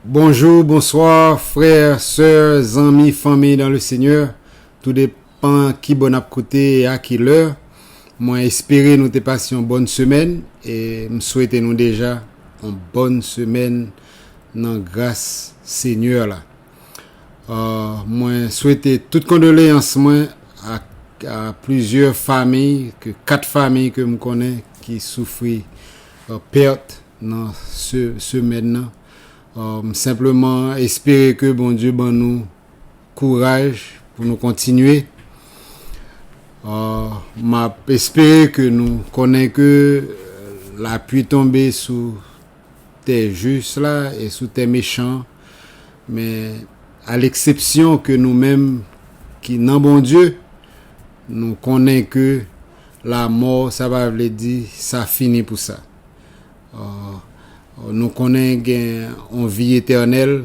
Bonjour, bonsoir, frère, sœur, zanmi, fanmi dans le Seigneur, tou depan ki bò nap koute e a ki lè, mwen espere nou te pase yon bòn semèn e m swete nou deja yon bòn semèn nan gras Seigneur la. Mwen swete tout kondoleyans mwen ak plizyè famiy, 4 famiy ke m konnen ki soufri pèt nan semèn nan. M senpleman espere ke Bondye ban nou kouraj pou nou kontinye. M ap espere ke nou konnen ke lapui tonbe sou tè jis la e sou tè mechan, men a leksepsyon ke nou menm ki nan Bondye, nou konnen ke lamò sa pa vle di sa fini pou sa. Nou konnen gen yon vi etènèl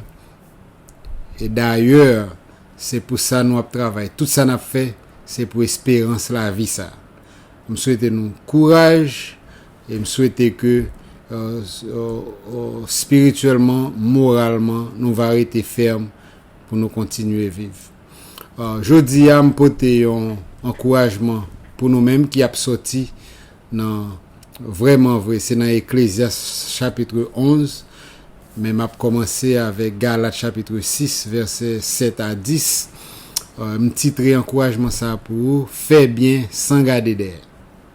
e dayè se pou sa nou ap travay. Tout sa n ap fè se pou esperans lavi sa. M swete nou kouraj. E m swete ke spirityèlman, moralman nou va rete fèm pou nou kontinye viv. Jodi a m pote yon ankourajman pou nou menm ki ap sòti nan vrèman vre se nan Eklezyas chapitre 11 men m ap kòmanse avèk Galat chapitre 6 vèsè 7 a 10 m titre ankourajman sa pou ou, fè byen san gade dèyè.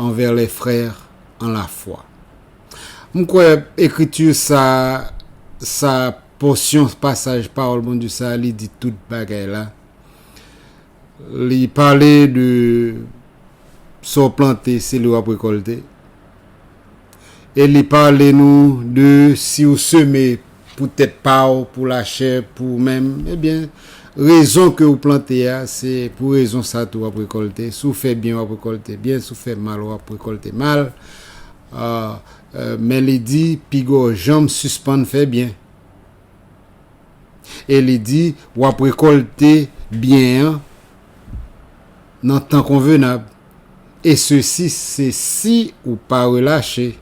anvè lè frè an la fwa. M kwè ekriti sa a, sa a, pòsyon pasaj pawòl Bondye sa a li di tout bagay la. Li pale de sa w plante se li w ap rekòlte. e li pale nou de si ou seme pou tèt pa ou, pou lachè, pou ou menm, ebyen rezon ke ou plante a, se pou rezon sa tou wap rekòlte, si ou fè byen wap rekòlte byen, si ou fè mal wap rekòlte mal, men li di piga w janm sispann fè byen, e li di wap rekòlte byen an nan tan konvenab. Et ceci se si ou pa relache.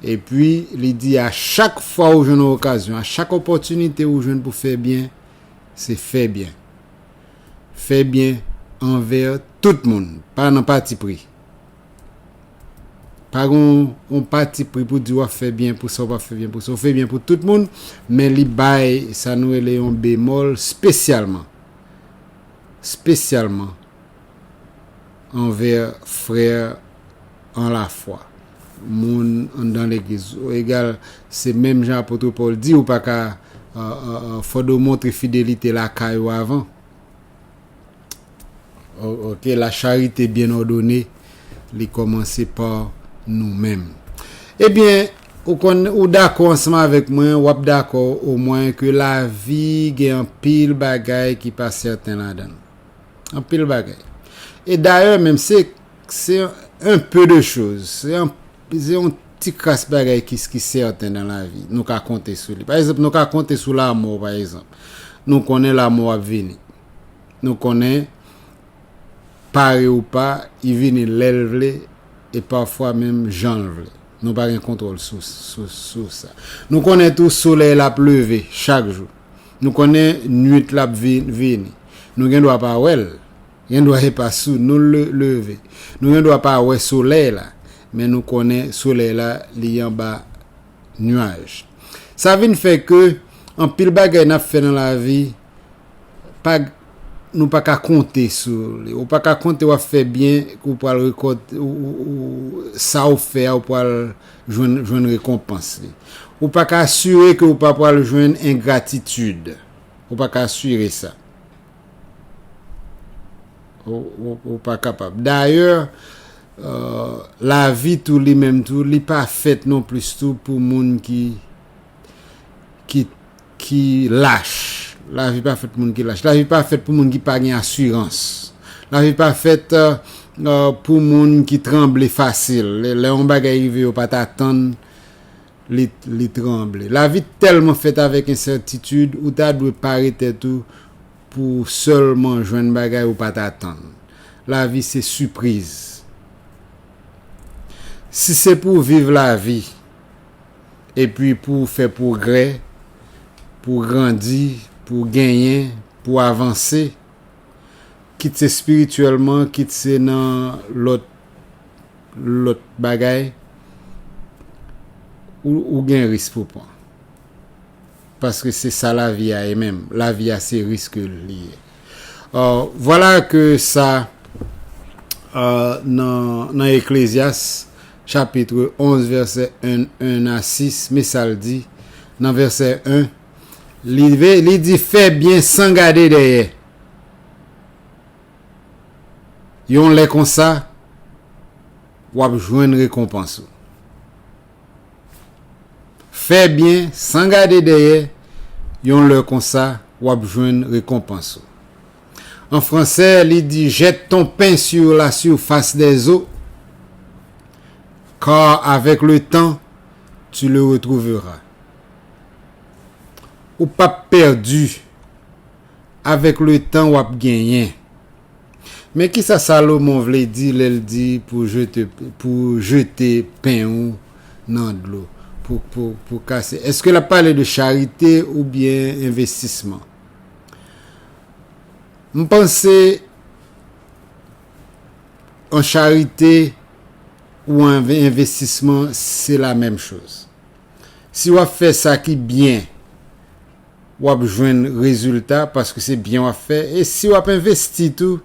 Et puis li di a chak fwa ou jwenn yon okazyon, a chak opòtinite ou jwenn pou fè byen, se fè byen. Fè byen anver tout moun, pa nan patipri. Pa gen yon patipri pou di wap fè byen pou sa ou pa fè byen pou sa. Ou fè byen pou tout moun, men li bay sa nou rele yon bemòl spesyalman. spesyalman anvè frè an lafwa, moun anndan legliz ou egal se menm jan apotre Paul di ou pa ka fòde ou montre fidelite lakay ou avan ok la charite byen òdone li kòmanse pa nou menm ebyen. Ou konn ou dakò ansanm avèk mwen, w ap dakò omwen ke lavi gen anpil bagay ki pa sèten ladan l. Anpil bagay. E dayè menm se se un peu de chose, se an se yon ti kras bagay ki ki sèten nan lavi, nou ka konte sou li. Pa egzanp, nou ka konte sou lamò pa egzanp. Nou konnen lamò ap vini. Nou konnen pare ou pa, li vini lè l vle e pafwa menm jan l vle. Nou pa gen kontwòl sou sa. Nou konnen tou solèy la ap leve chak jou. Nou konnen nuit la ap vini. Nou gen dwa pa wè l. Gen dwa e pa sou nou l leve. Nou gen dwa pa wè solèy la. Men nou konnen solèy la li anba nuaj. Sa vin fè ke anpil bagay n ap fè nan lavi. pag nou pa ka konte sou li ou pa ka konte wap fè byen ke ou pral rekòt sa ou fè a ou pral jwenn rekonpans li ou pa ka asire ke ou pa pral jwenn engratitid ou pa ka asire sa ou pa kapab dayè lavi tou li menm tou li pa fèt non plis tou pou moun ki ki ki lach. Lavi pa fèt pou moun ki lach. Lavi pa fèt pou moun ki pa gen asirans. Lavi pa fèt pou moun ki tranble fasil. Lè yon bagay rive yo pa t atann li tranble. Lavi tèlman fèt avèk ensètitid ou ta dwe pare tèt ou pou w sèlman jwenn bagay ou pa t atann. Lavi se sipriz. Si se pou w viv lavi epi pou w fè pwogrè, pou w grandi, pou w genyen, pou w avanse, kit se espirityèlman, kit se nan lòt lòt bagay, ou ou gen risk pou w pran. Paske se sa lavi a ye menm. Lavi a se risk li ye. Ò, vwala ke sa nan nan Eklezyas, chapitre 11 vèsè 1 1 a 6 me sal di nan vèsè 1 li li di fè byen san gade dèyè yon lè konsa wap jwenn rekonpans ou fè byen san gade dèyè yon lè konsa wap jwenn rekonpans ou. An fransè, li di jette ton pain sur la surface des eaux, car avec le temps, tu le retrouveras. Ou p ap pèdi, avèk letan w ap genyen. Men ki sa Salomon vle di lè l di pou w jete pen ou nan dlo, pou w kase. Èske l ap pale de charite oubyen envestisman? M panse an charite ou an envestisman se la menm choz. Si w ap fè sa ki byen, w ap jwenn rezilta paske se byen w ap fè e si w ap envesti tou,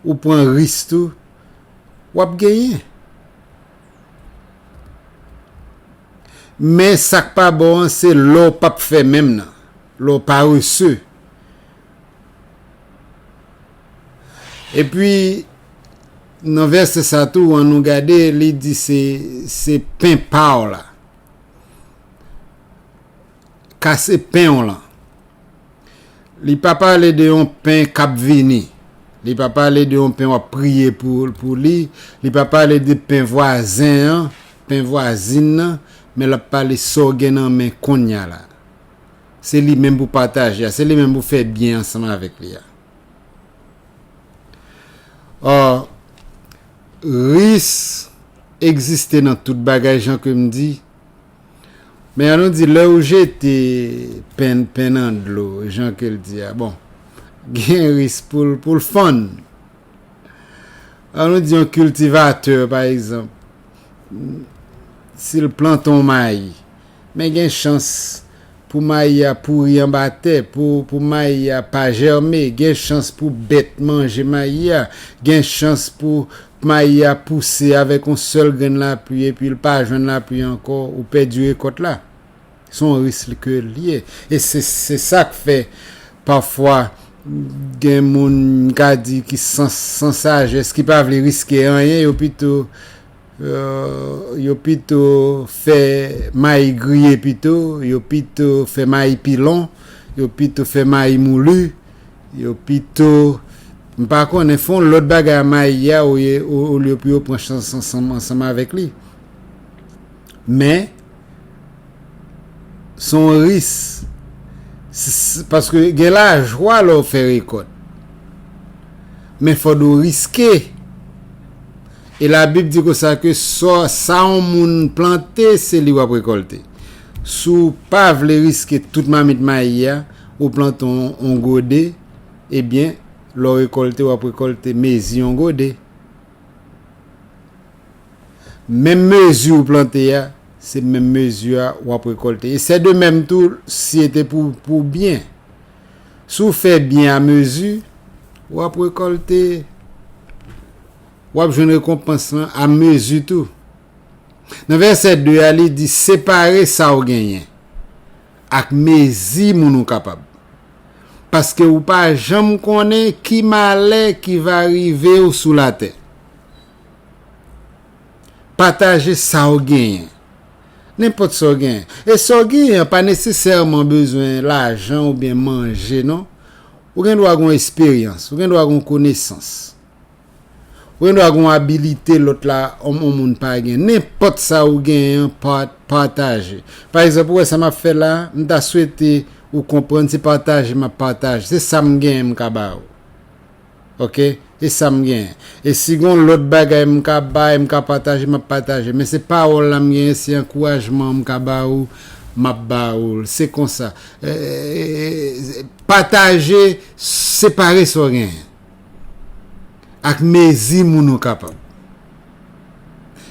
ou pran risk tou, w ap genyen. Men sa k pa bon an se lè w pap fè menm nan. Lè w parese. Epi, nan vèsè sa tou, an nou gade, li di se, se pen pa w la. Kase pen w lan. Li pa pale de yon pen k ap vini. Li pa pale de yon pen w ap priye pou, pou li. Li pa pale de pen vwazen an, pen vwazin nan, men l ap pale sa w gen nan men kounya la. Se li menm pou pataje a. Se li menm pou fè byen ansanm avèk li a. Or, ris egziste nan tout bagay jan ke m di. Men an nou di, lè ou jete pen, pen nan dlo, jan ke l di a, bon, gen ris pou l, pou l fann. An nou di yon kiltivatè, pa egzanp, si l plante yon mayi, men gen chans pou mayi a pouri anba tè, pou mayi a pa jème, gen chans pou bèt manje mayi a, gen chans pou mayi a pouse avèk yon sèl grenn lapli epi l pa jwenn lapli ankò, ou pèdi rekòt la. Se yon risk ke li ye. E se sa k fè pafwa gen moun m ka di ki san sajès, ki pa vle riske anyen, yo pito yo pito fè mayi griye pito, yo pito fè mayi pilon, yo pito fè mayi moulu, yo pito m pa konnen fè yon lòt bagay a mayi a olye pou yo pran chans ansanm avèk li. Men, se yon ris. Paske gen lajwa lè w fè rekòt. Men fò nou riske. E labib di konsa ke sa yon moun plante se li w ap rekòlte. Si w pa vle riske tout mamit mayi a, ou plante yon gode, ebyen lè w rekòlte w ap rekòlte mezi yon gode. Menm mezi ou plante a, se menm mezi a ou ap rekòlte. E sè de menm tou, si e te pou byen. Si ou fè byen a mezi, ou ap rekòlte, ou ap jwenn rekonpans lan a mezi tou. Nan vèsè 2 a, li di, separe sa ou genyen. Ak mezi moun ou kapab. Paske ou pa janm konnen ki malè ki va rive ou sou latè. Pataje sa ou genyen. Nenpòt sa ou genyen. E sa ou genyen an pa nesesèman bezwen lajan oubyen manje non. Ou gen dwa gen yon esperyans. Ou gen dwa gen yon konesans. Ou gen dwa gen yon abilite lòt la yon moun pa gen. Nenpòt sa ou genyen an pataje. Pa egzanp ou wè sa m ap fè la, m ta swete ou konprann se pataje m ap pataje. Se sa m genyen m ka ba ou. Ok? E sa m genyen. E si gen yon lòt bagay m ka bay, m ka pataje, m ap pataje. Men se pawòl la m genyen, se ankourajman m ka ba ou, m ap ba ou l. Se konsa. Pataje, separe sa w genyen. ak mezi moun ou kapab.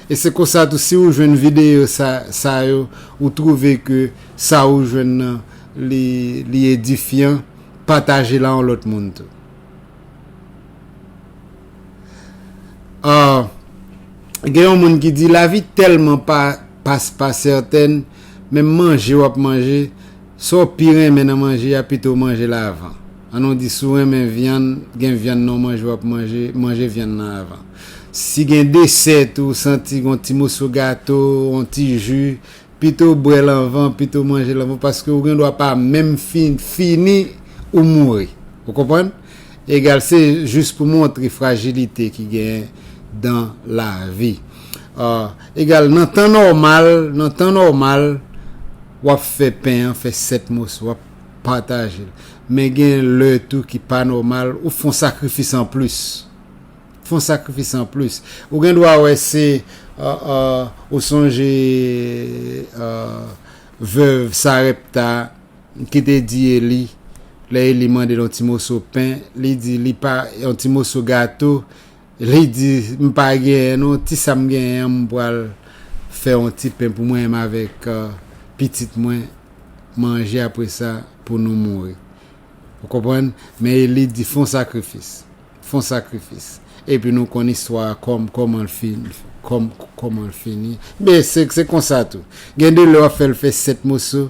E se konsa tou si ou jwenn videyo sa yo ou twouve ke sa ou jwenn nan li edifyan pataje l a yon lòt moun tou. Ahh gen yon moun ki di lavi tèlman pa pa sètèn menm manje w ap manje Sa w pi renmen nan manje a pito w manje l avan. An nou di si w renmen vyann, gen vyann nan w manje w ap manje, manje vyann nan avan. Si gen desè tou w santi gen yon ti moso gato, yon ti ji, pito w bwè l anvan, pito w manje l anvan paske ou gen dwa pa menm fin fini ou mouri. Ou konprann? Egal se jis pou montre frajilite ki genyen dan lavi. Egal nan tan nòmal, nan tan nòmal, Wap fè pen an fè 7 moso wap patajel men gen lè tou ki pa nòmal ou fon sakrifis an plis fon sakrifis an plis ou gen dwa wè se ou sonje veuve Sarepta ki te di Eli lè Eli mandel yon ti moso pen li di li pa yon ti moso gato Li di, M pa genyen non, ti sa m genyen an m pral fè yon ti pen pou mwen menm avèk pitit mwen manje apre sa pou nou mouri. Ou konprann? Men Eli di, Fè yon sakrifis. Fè yon sakrifis. Epi nou konn istwa a kòman l fini. Kòman l fini. Men se konsa tou. Gen de lè w ap fè l fè sèt moso.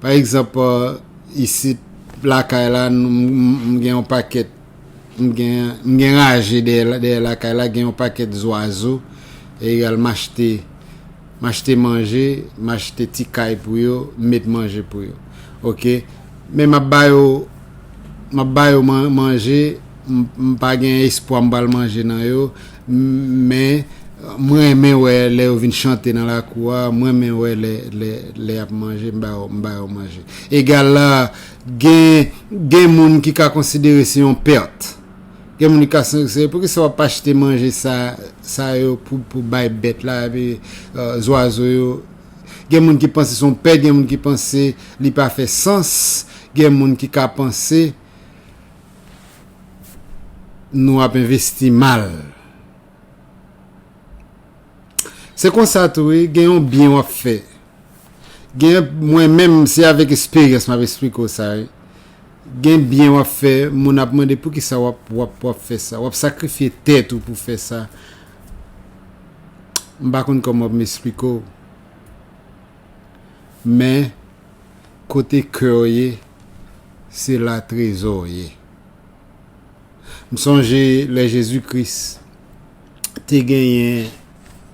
Pa egzanp, isit lakay la, m gen yon pakèt, m gen raje dèyè lakay la, gen yon pakèt zwazo, egal m achte, m achte manje, m achte ti kay pou yo, m met manje pou yo. Ok. Men m ap ba yo, m ap ba yo manje, M pa gen espwa m pral manje nan yo, men m renmen wè lè yo vin chante nan lakou a, m renmen wè lè y ap manje, m ba yo manje. Egal la, gen moun ki ka konsidere se yon pèt. Gen moun ki ka konsidere, poukisa w ap achte manje sa yo pou bay bèt la, epi zwazo yo? Gen moun ki panse se yon pèt, gen moun ki panse li pa fè sans, gen moun ki ka panse. nou ap envesti mal. Se konsa tou wi, gen yon byen wap fè. Gen mwen menm se avèk esperyans map esplike w sa wi. Gen byen wap fè, moun ap mande poukisa wap wap wap fè sa. Wap sakrifye tèt ou pou fè sa. M pa konn kòman pou m esplike w. Men. Kote kew ye se la trezow ye m sonje lè Jezi kris te genyen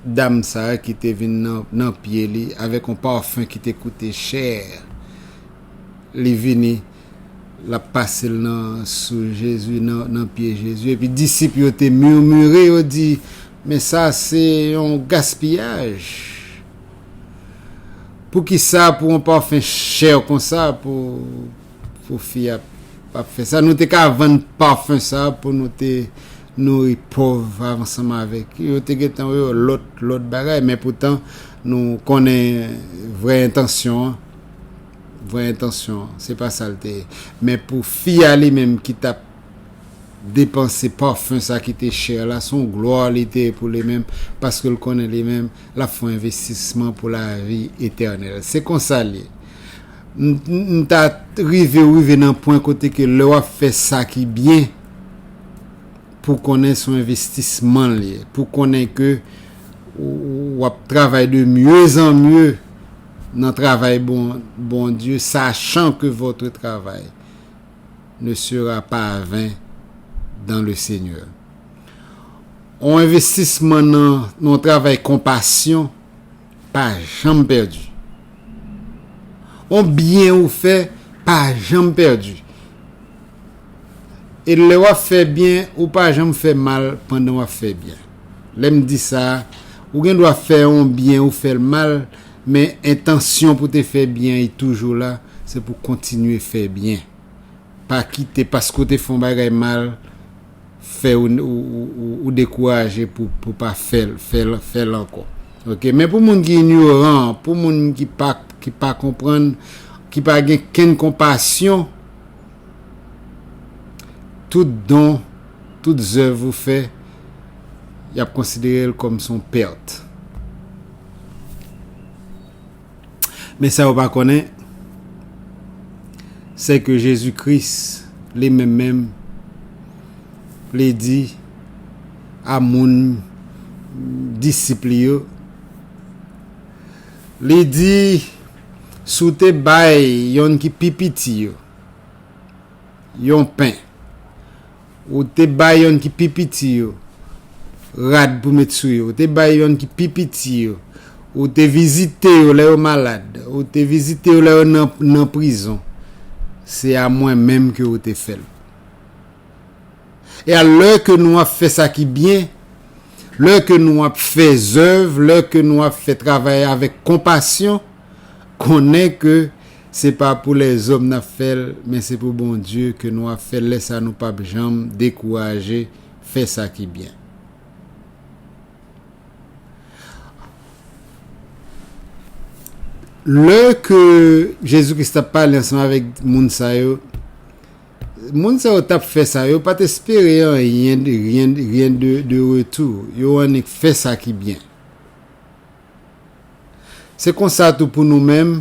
dam sa ki te vin nan pye li avèk yon parfum ki te koute chè li vini lap pasel nan sou Jezi nan pye Jezi epi disip yo te murmure yo di men sa se yon gaspillage. Poukisa pou yon parfum cher konsa pou pou fi a ap fè sa. Nou te ka vann parfum sa pou nou te nouri pov ansanm avèk yo. Yo te gen tan wè yo lòt lòt bagay men poutan nou konnen vrè entansyon an. Vrè entansyon an se pa sa l te ye. Men pou fi a li menm ki tap depanse parfum sa ki te cher la son gloire li te pou li menm paske l konnen li menm lap fon investisman pou la vi eternel se konsa l ye m ta rive ou rive nan pwen kote ke lè wap fè sa ki byen pou konnen son investisman l ye pou konnen ke wap travay de mieux en mieux nan travay bon Bondye sachan ke votre travay ne sera pas à vain dans le Seigneur. On envestisman nan yon travay konpasyon pa janm pèdi. On byen ou fè pa janm pèdi. E lè w ap fè byen, ou pa janm fè mal pandan w ap fè byen. Lè m di sa, ou gen dwa fè yon byen ou fè l mal, Men entansyon pou te fè byen y toujou la, se pou kontinye fè byen. Pa kite paske w te fè yon bagay mal fè ou dekouraje pou pa fè l ankò. Ok men pou moun ki inyoran, pou moun ki pa konprann, ki pa gen kenn konpasyon, tout don, tout zèv ou fè, y ap konsidere l kòm s on pèt. Men sa yo pa konnen, se ke Jezi Kris li menm menm, li di a moun, disip li yo, li di, Si w te bay yonn ki pi piti yo yon pen, Ou te bay yon ki pi piti yo rad pou met sou yo. Ou te bay yon ki pi piti yo. Ou te vizite yo lè yo malad. Ou te vizite yo lè yo nan prizon. Se a mwen menm ke ou te fè l. E a lè ke nou ap fè sa ki byen, lè ke nou ap fè zèv, lè ke nou ap fè travay avèk konpasyon, Konnen ke se pa pou lèzòm n ap fè l, men se pou Bondye ke nou ap fè l lè sa nou p ap janm dekouraje fè sa ki byen. Lè ke Jezi Kris t ap pale ansanm avèk moun sa yo, moun sa yo t ap fè sa, yo pa t espere anyen, ryen de retou, yo annik fè sa ki byen. Se konsa tou pou nou menm,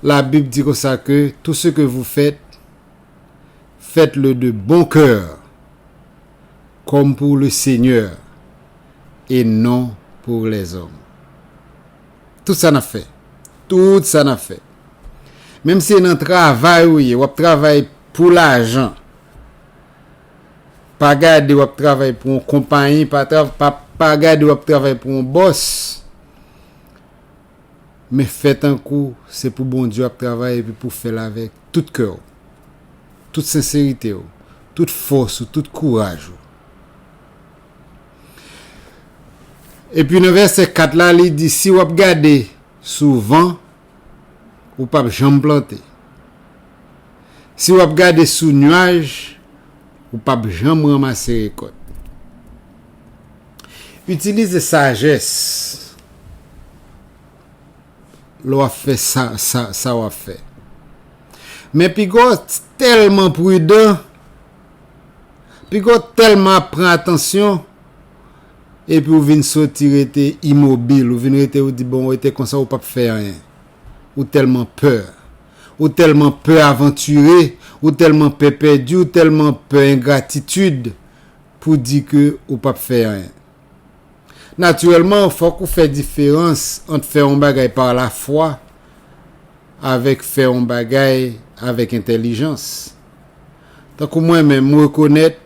la Bib di konsa ke tout se ke vou fèt, fèt le de bon kè, kòm pou le Senyè, e non pou lèzòm. Tout sa n'ap fè, tout sa n'ap fè, menm se nan travay ou ye, w'ap travay pou lajan, Pa gade wap travay pou yon konpayi pa pa gade wap travay pou yon bòs men fè tankou se pou Bondye wap travay epi pou fèl avèk tout kèw tout senseritew tout fòs ou tout kouraj ou. Epi nan vèsè 4 la li di si wap gade souvan ou pap janm plante. Si wap gade sou nuaj, ou pap janm ranmase rekòt. Itilize sajès lè wap fè sa wap fè. Men piga w tèlman pridan, piga w tèlman ap pran atansyon, Epi ou vin soti rete imobil, ou vin rete ou di bon ou rete konsa ou pap fè anyen. Ou tèlman pè. Ou tèlman pè avantire, ou tèlman pè pèdi, ou tèlman pè engratitid pou di ke ou pap fè anyen. Natirèlman fòk ou fè diferans ant fè yon bagay pa lafwa avèk fè yon bagay avèk entèlijans. Tankou mwen menm, m rekonèt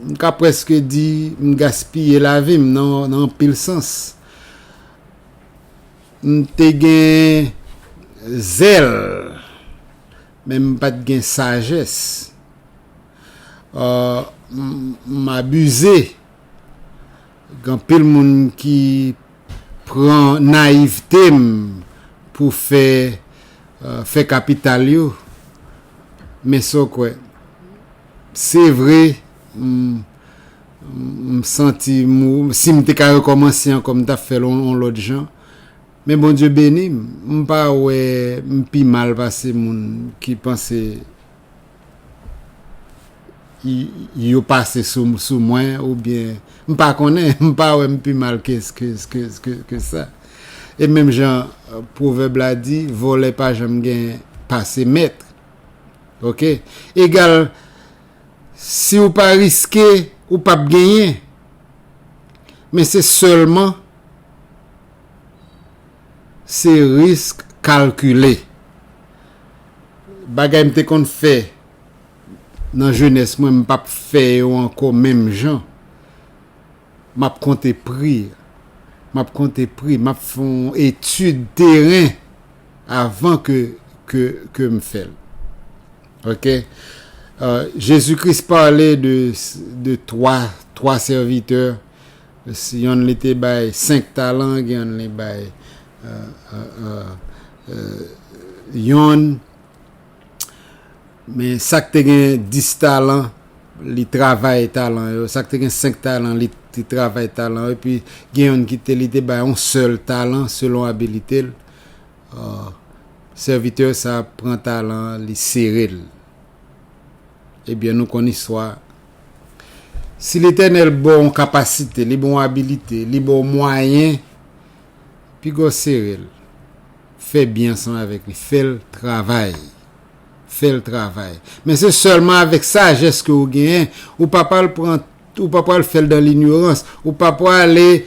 M ka prèske di m gaspiye lavi m nan anpil sans. M te gen zèl, men m pa t gen sajès. M abize. Gen anpil moun ki pran nayivte m pou fè fè kapital yo, men sa w kwè? Se vre m santi m si m te ka rekòmanse ankò m t ap fè l yon lòt jan, men Bondye beni m, m pa wè m pi mal pase moun ki panse. yo pase sou mwen ou byen m pa konnen m pa wè m pi mal ke sa e menm jan pwovèb la di vòlè pa janm gen pase mèt ok egal si ou pa riske ou pa p genyen men se sèlman se risk kalkile Bagay m te konn fè nan jenès mwen m pa p fè yo ankò menm jan. M ap konte pri. M ap konte pri. M ap fè yon etid teren avan ke m fè l. Ok. Jezi Kris pale de twa sèvitè Si yonn li te bay senk talan, gen yonn li bay yonn. Men sa k te gen dis talan, li travay talan yo. Sa k te gen senk talan, li te travay talan yo. Epi gen yonn ki te li te bay yon sèl talan selon abilite l. Sèvitè sa a pran talan an, li sere l. Ebyen nou konn istwa Si Letènèl ba w yon kapasite, li ba w yon abilite, li ba w mwayen, piga w sere l. Fè byen ansanm avèk li. Fè l travay. Fè l travay. Men se sèlman avèk sajès ke ou genyen. Ou pa pral pran, ou pa pral fè l dan linyorans. Ou pa prale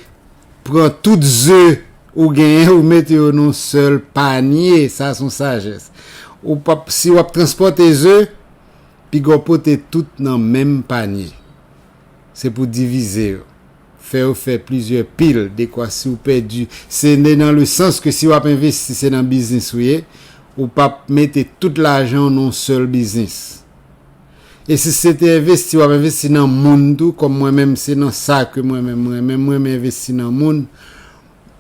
pran tout ze ou genyen ou mete yo nan yon sèl panye. Sa se yon sajès. Ou pa, si w ap transpòte ze. Pigaw pote tout nan menm panye. Se pou divize yo. Fè yo fè plizyè pil dekwa si w pèdi se ne nan le sans ke si wap envesti se nan biznis ou ye ou pap mete tout lajan w nan yon sèl biznis. E si se te envesti wap envesti nan moun tou kòm mwen menm se nan sa ke mwen menm renmen m renmen envesti nan moun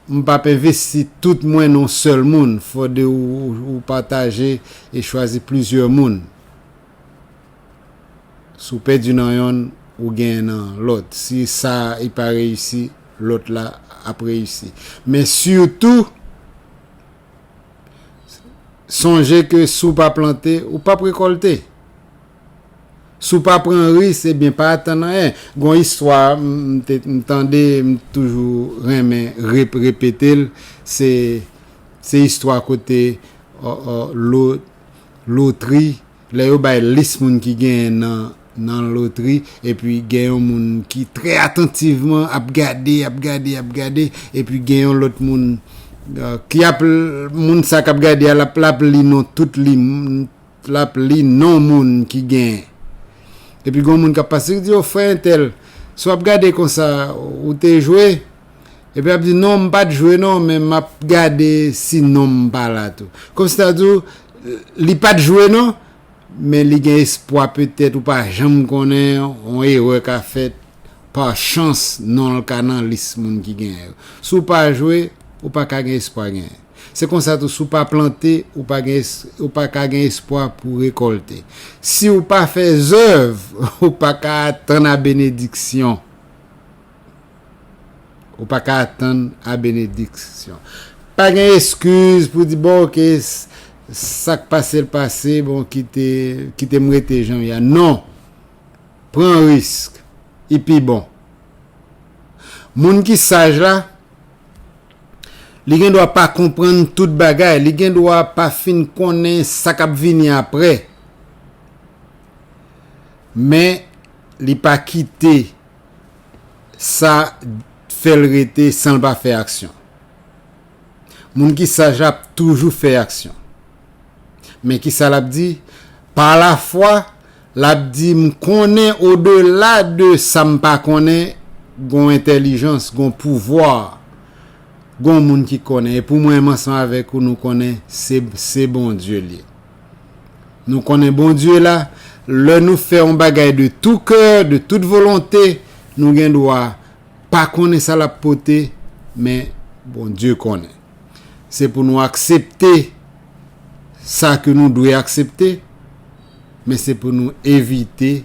M pap envesti tout mwen nan yon sèl moun, fò de ou pataje e chwazi plizyè moun. Si w pèdi nan yonn, ou genyen nan lòt. Si sa a e pa reyisi, lòt la ap reyisi. Men sitou, sonje ke si w pa plante, ou pap rekòlte. Si w pa pran ris ebyen pa atann anyen. Gon istwa m tande m toujou renmen repete l se istwa kote lotri lè yo bay lis moun ki genyen nan lotri epi gen yon moun ki trè atantivman ap gade ap gade ap gade epi gen yon lòt moun ki ap moun sa k ap gade a l ap li non tout li. l ap li non moun ki gen epi gon moun k ap pase ki di o frè entèl si w ap gade konsa ou te jwe epi l ap di non m pa t jwe non men m ap gade si non m pa la tou kòm si ta di w li pa t jwe non men li gen espwa petèt ou pa janm konnen yon erè ka fèt pa chans non l ka nan lis moun ki gen yo si w pa jwe ou pa ka gen espwa gen. Se konsa tou si w pa plante, ou pa ka gen espwa pou w rekòlte. Si w pa fè zèv, ou pa ka atann a benediksyon. Ou pa ka atann a benediksyon. Pa gen eskiz pou w di, bon ok, sa k pase l pase, bon kite m rete jan m ye a. Non! Pran risk, li pi bon. Moun ki saj la. Li gen dwa pa konprann tout bagay, li gen dwa pa fin konnen sa k ap vini apre, men li pa kite sa fè l rete san l pa fè aksyon. Moun ki saj la ap toujou fè aksyon. Men ki sa l ap di, Pa lafwa, Lap di m konnen o dela de sa m pa konnen gon entèlijans, gon pouvwa, gon moun ki konnen e pou mwen m ansanm avèk ou nou konnen se se Bondye l ye. Nou konnen Bondye la lè nou fè on bagay de tou kè, de tout volonte nou gen dwa pa konnen sa lap pote men Bondye konnen. Se pou nou aksepte sa ke nou dwe aksepte, men se pou nou evite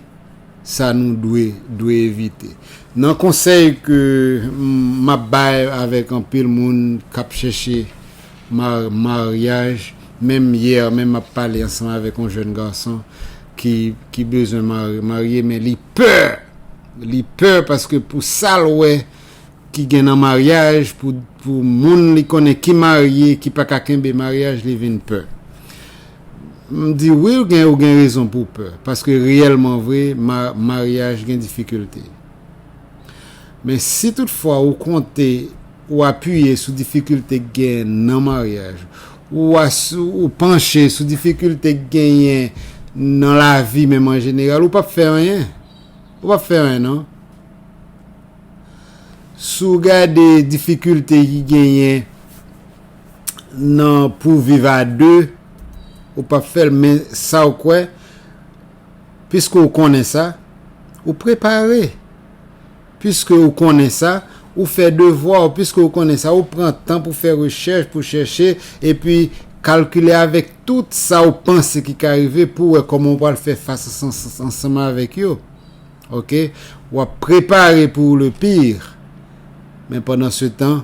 sa nou dwe dwe evite. Nan konsèy ke m ap bay avèk anpil moun k ap chèche maryaj, menm yè menm m ap pale ansanm avèk yon jèn gason ki bezwen marye men li pè, li pè paske pou sa l wè, ki gen nan maryaj pou pou moun li konnen ki marye ki pa ka kenbe maryaj li vin pè m di wi ou gen ou gen rezon pou w pè paske reyèlman vre ma maryaj gen difikilte men si tout fwa ou konte ou apiye sou difikilte k gen nan maryaj ou a sou ou panche sou difikilte k genyen nan lavi menm an jeneral ou p ap fè anyen ou p ap fè anyen nan. Si w gade difikilte ki genyen nan pou w viv a 2, ou p ap fè l men sa w kwè, piske w konnen sa, ou prepare, piske w konnen sa, ou fè devwa w, piske w konnen sa, ou pran tan pou fè rechèch, pou chèche, epi kalkile avèk tout sa w panse ki ka rive pou w wè kòman w pral fè fas ansanm avèk yo. Ok wap prepare pou le pire men pandan se tan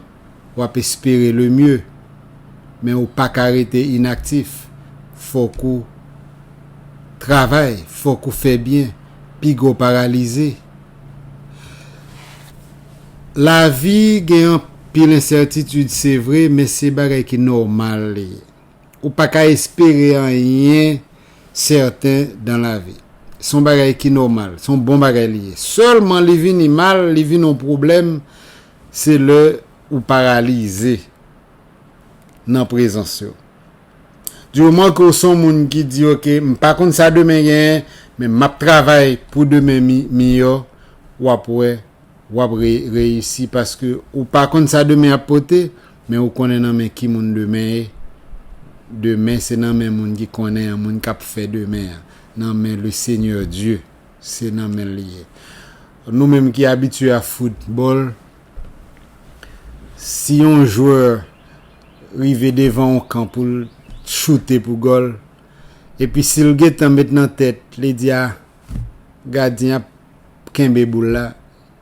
wap espere le mieux men ou paka rete inaktif fok ou Travay fok ou fè byen piga w paralize lavi gen anpil ensètitid se vre men se bagay ki nòmal li ye. Ou pa ka espere anyen sèten dan lavi. Se yon bagay ki nòmal, se yon bon bagay li ye. Sèlman li vini mal, li vini yon pwoblèm, se lè ou paralize nan prezans yo. Du moman ke w se yon moun ki di ok, m pa konn sa demen genyen, men m ap travay pou demen miyò, w ap wè w ap reyisi paske ou pa konn sa demen ap pote. Men ou konnen nan men ki moun demen ye? Demen se nan men moun ki konnen an, moun k ap fè demen an. Nan men le Seigneur Dieu. Se nan men l li ye. Nou menm ki abitye a foutbòl, si yon jwè rive devan yon kan pou l choute pou gòl, epi si l gen tan met nan tèt li di a gadyen ap kenbe boul la,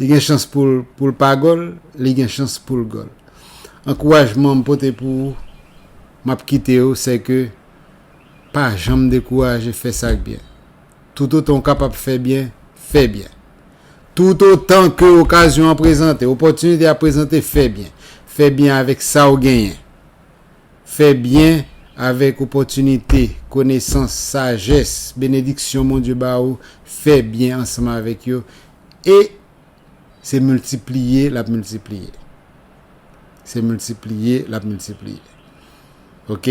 Li gen chans poul poul pa gol li gen chans poul gol ankourajman m pote pou ou map kitew sèke pa janm dekouraje fè sak byen tout otan ou kapab fè byen fè byen tout otan ke okazyon an prezante opòtinite a prezante fè byen fè byen avèk sa ou genyen Fè byen avèk opòtinite, konesans, sajès, benediksyon Bondye ba ou, fè byen ansanm avèk yo e se miltipliye l ap miltipliye. Se miltipliye l ap miltipliye. Ok?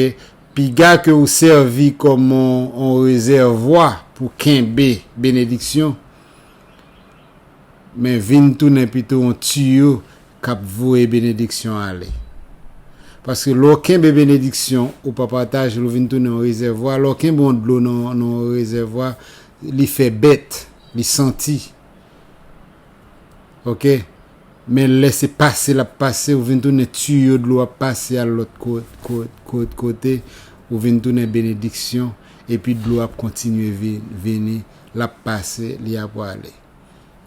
Piga ke ou sèvi kòm yon rezèvwa pou kenbe benediksyon, Men vin tounen pito yon tiyo k ap voye benediksyon ale. Paske lè w kenbe benediksyon, ou pa pataje l, ou vin tounen yon rezèvwa. Lè w kenbe yon dlo nan yon rezèvwa, li fè bèt, li santi. Ok. Men lè se pase l ap pase, ou vin tounen tiyo dlo ap pase al lòt kote, ou vin tounen benediksyon, epi dlo ap kontinye vini lap pase li ap wale.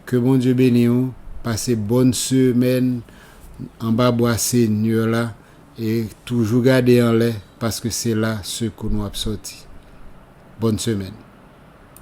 Ke Bondye beni ou pase bòn semèn anba bwa Segnè la e toujou gade anlè paske se la sekou nou ap sòti. Bòn semèn.